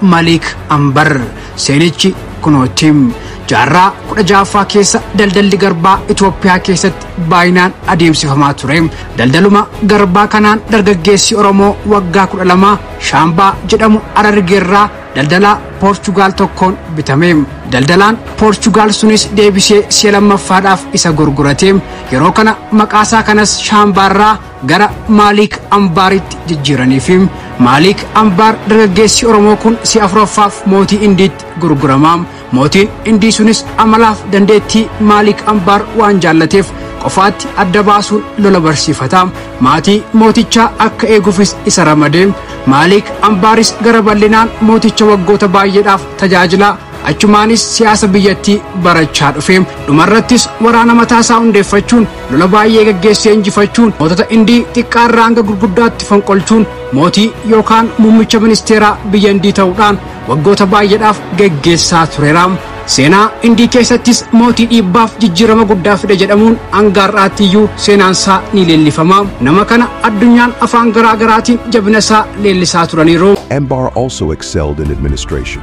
Malik Ambar. Seenichi kunooti. Jaarraa 16ffaa keessa daldalli garbaa Itoophiyaa keessatti baay'inaan adeemsifamaa ture. Daldaluma garbaa kanaan dargaggeessi Oromoo waggaa 12 Shaambaa jedhamu Harargeerraa daldalaa Poorchugaal tokkoon bitame. Daldalaan Poorchugaal sunis deebisee si'a lammaffaadhaaf isa gurgurate. Yeroo kana maqaasaa kanas Shaambaarraa gara Maaliik Ambaaritti jijjiiranii fi Maaliik Ambaar dargaggeessi Oromoo kun si'a afuraffaaf mootii Indiitti gurgurama. Mootiin Indii sunis amalaaf dandeettii Maaliik Ambaar waan jaallateef qofaatti adda baasuun lola barsiifata. Maatii mootichaa akka eegufis isa ramade. Maaliik Ambaaris gara bal'inaan mooticha waggoota baay'eedhaaf tajaajila. Achumaanis siyaasa biyyattii barachaa dhufe. Dhumarrattis waraana mataasaa hundeeffachuun lola baay'ee gaggeessee injifachuun mootota Indii xiqqaarraa hanga gurguddaatti fonqolchuun mootii yookaan muummicha ministeeraa biyya Indii ta'uudhaan waggoota baay'eedhaaf gaggeessaa tureera. Seenaa Indii keessattis mootii dhiibbaaf jijjiirama guddaa fide jedhamuun hanga har'aatti iyyuu seenaansaa ni leellifama. Nama kana addunyaan afaan garaa garaatiin jabinasaa leellisaa turaniiru. Embar also excelled in administration.